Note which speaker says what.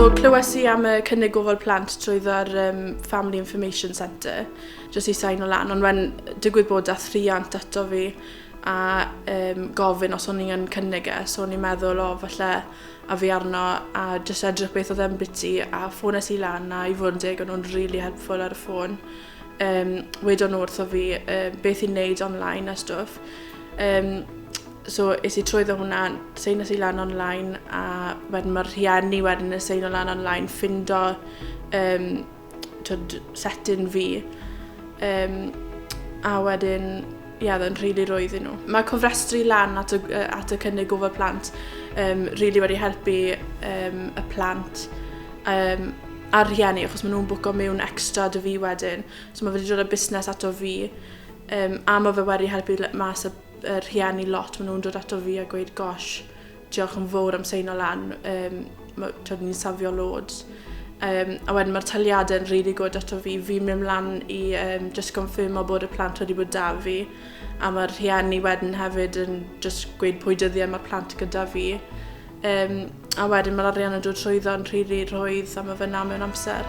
Speaker 1: So, clywes i am y cynnig gofal plant trwy dda'r um, Family Information Centre, jyst i sain o lan, ond mae'n digwydd bod dath rhiant ato fi a um, gofyn os o'n i'n cynnig e, so o'n i'n meddwl, o, oh, falle a fi arno, a jyst edrych beth oedd e'n biti, a ffones i lan, a i fod yn deg, o'n nhw'n really helpful ar y ffôn. um, wedon nhw wrtho fi um, beth i'n neud online a stwff. Um, so is i trwyddo hwnna, seinas i lan online a wedyn mae'r rhieni wedyn y seino lan online ffindo um, tyd, setyn fi. Um, a wedyn Ie, oedd e'n rili rwydd iddyn nhw. Mae cofrestru lan at y, at y cynnig gofal plant um, really wedi helpu um, y plant um, a'r rhieni, achos maen nhw'n bwco mewn extra dy fi wedyn. So mae wedi dod â busnes ato fi, um, a mae fe wedi helpu mas y, y rhieni lot. Maen nhw'n dod ato fi a gweud, gosh, Diolch yn fawr am seino lan, um, twyd ni'n safio loads. Um, a wedyn mae'r taliadau yn really good ato fi. Fi'n mynd mlaen i um, just confirmo bod y plant wedi bod da fi. A mae'r rhieni wedyn hefyd yn just gweud pwy dyddiau mae'r plant gyda fi. Um, a wedyn mae'r arian yn dod trwyddo'n rhiri rhwydd a mae fyna mewn amser.